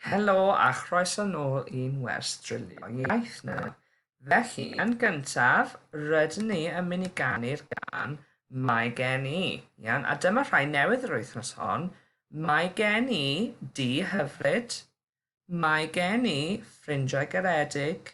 Helo a chroeso nôl i'n wers drilio iaith ni. Felly, yn gyntaf, rydyn ni yn mynd i ganu'r gân Mae Gen I. Iawn, a dyma rhai newydd yr wythnos hon, Mae Gen I Dŷ Hyfryd, Mae Gen I Ffrindiau Garedig,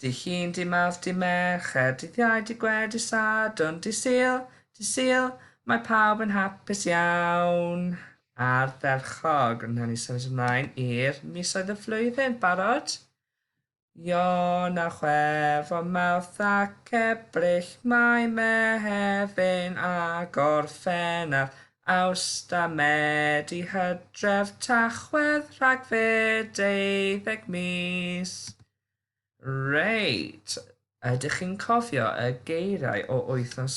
Dy Llun, Dy Mawrth, Dy Mercher, Dydd Iau, Dy Gwener, Dy Sadwrn, Dy Sul, Dy Sul, mae pawb yn hapus iawn. Ardderchog. Wnawn ni symud ymlaen i'r misoedd y flwyddyn. Barod? Ion a Chwefror, Mawrth ac Ebrill, Mai, Mehefin a Gorffennaf, Awst a Medi, Hydref, Tachwedd, Rhagfyr, deuddeg mis. Reit, ydych chi'n cofio y geiriau o wythnos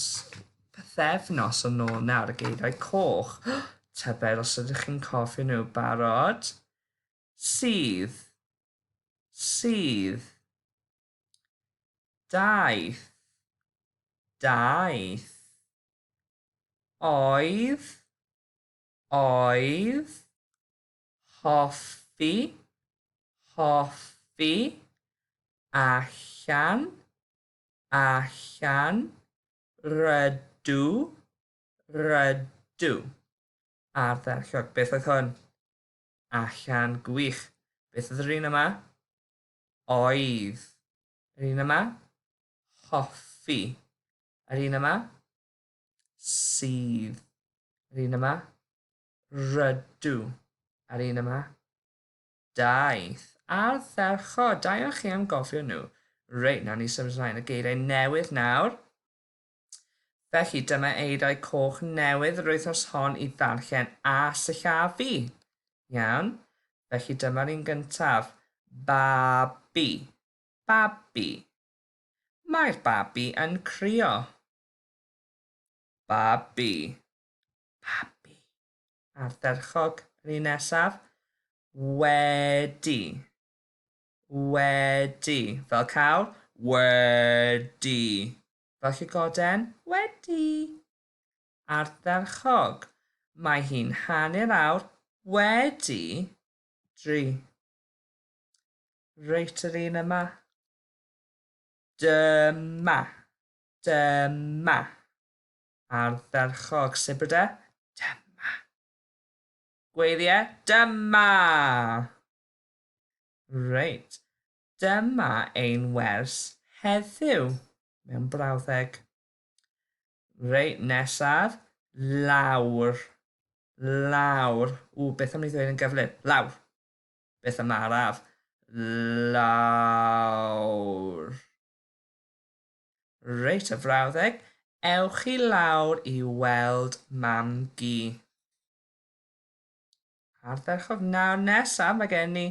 pythefnos yn ôl nawr, y geiriau coch? Tybed os ydych chi'n cofio nhw barod? Sydd. Sydd. Daeth. Daeth. Oedd. Oedd. hoffi, hoffi, allan, allan, rydw, rydw. Ardderchog, beth oedd hwn? Allan, gwych. Beth oedd yr un yma? Oedd. Yr un yma? Hoffi. Yr un yma? Sydd. Yr un yma? Rydw. A'r un yma? Daeth. Ardderchog! Da iawn chi am gofio nhw. Reit, nawn ni symud ymlaen y geiriau newydd nawr. Felly, dyma eiriau coch newydd yr wythnos hon i ddarllen a sillafu. Iawn. Felly dyma'r un gyntaf. Babi. Babi. Mae'r babi yn crio. Babi. babi. Ardderchog. Yr un nesaf. Wedi. Wedi. Fel cawl. Wedi. Fel llygoden. Wedi. Ardderchog. Mae hi'n hanner awr wedi dri. Reit yr un yma. Dyma. Dyma. ardderchog Sibr de? Dyma! Gweirie? Dyma! Reit, dyma ein wers heddiw mewn brawddeg. Reit, nesaf, lawr. Lawr. Ww, beth am ni ddweud yn gyflym? Lawr. Beth am araf? Lawr. Reit y frawddeg, ewch i lawr i weld mam-gu. Ardderchog nawr nesaf mae gen i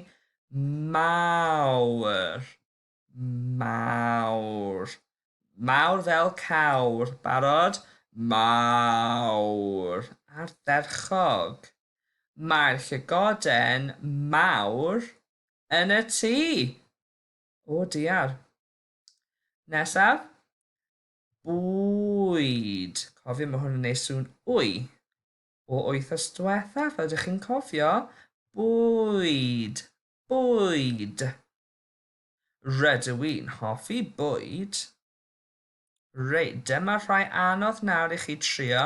mawr, mawr, mawr fel cawr, barod, mawr, ardderchog. Mae'r llygoden mawr yn y tŷ. O diar. Nesaf. Bwyd. Cofio, mae hwn yn ei sŵn wy. O wythos diwetha, fel ydych chi'n cofio, bwyd, bwyd. Rydw i'n hoffi bwyd. Reit, dyma rhai anodd nawr i chi trio.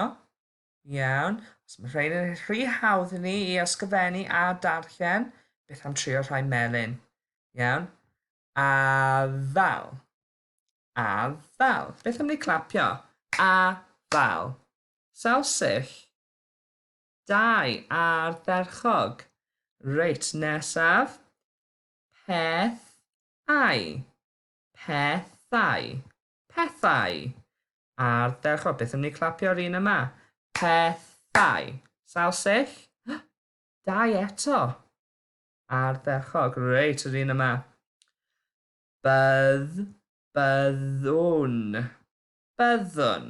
Iawn, os mae rhain yn rhy hawdd i ni i ysgrifennu a darllen, beth am trio rhai melyn? Iawn, A ddal. A ddal. Beth am ni clapio? A ddal. Sawl sill? Dau ardderchog. Reit, nesaf. Peth ai. Pethau. Pethau. Ardderchog. Beth am ni clapio'r un yma? Pethau. Sawl sill? Dau eto. Ardderchog, reit, yr un yma. Bydd, byddwn, byddwn.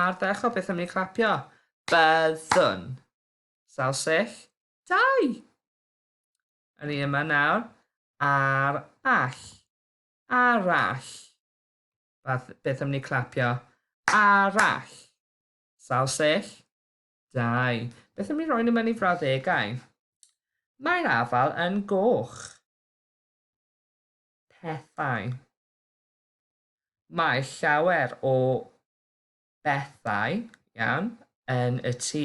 Ardderchog, beth am ni clapio? Byddwn. Sawl sill? Dau! Yr un yma nawr. Ar all. Arall. Beth am ni clapio? Arall. Sawl sill? Dau. Beth am ni roi nhw mewn i frawddegau? Mae'r afal yn goch. Pethau. Mae llawer o bethau, iawn, yn y tŷ.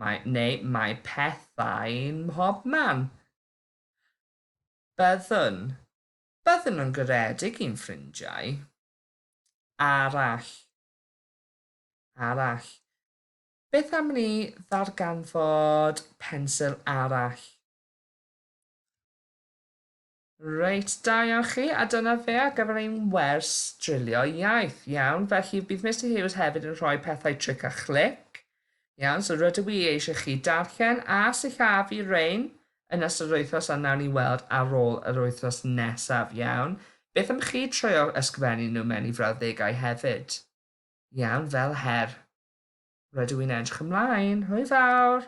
Mae, neu mae pethau mhob man. Byddwn. Byddwn nhw'n garedig i'n ffrindiau. Arall. Arall. Beth am ni ddarganfod pensil arall? Reit, da iawn chi, a dyna fe ar gyfer ein wers drilio iaith. Iawn, felly bydd Mister Hughes hefyd yn rhoi pethau tric a chlic. Iawn, so rydw i eisiau chi darllen a sillafu rein yn ystod yr wythnos a nawn ni weld ar ôl yr wythnos nesaf, iawn. Beth am chi treulio ysgrifennu nhw mewn i frawddegau hefyd? Iawn, fel her. Rydw i'n edrych ymlaen. Hwyl fawr!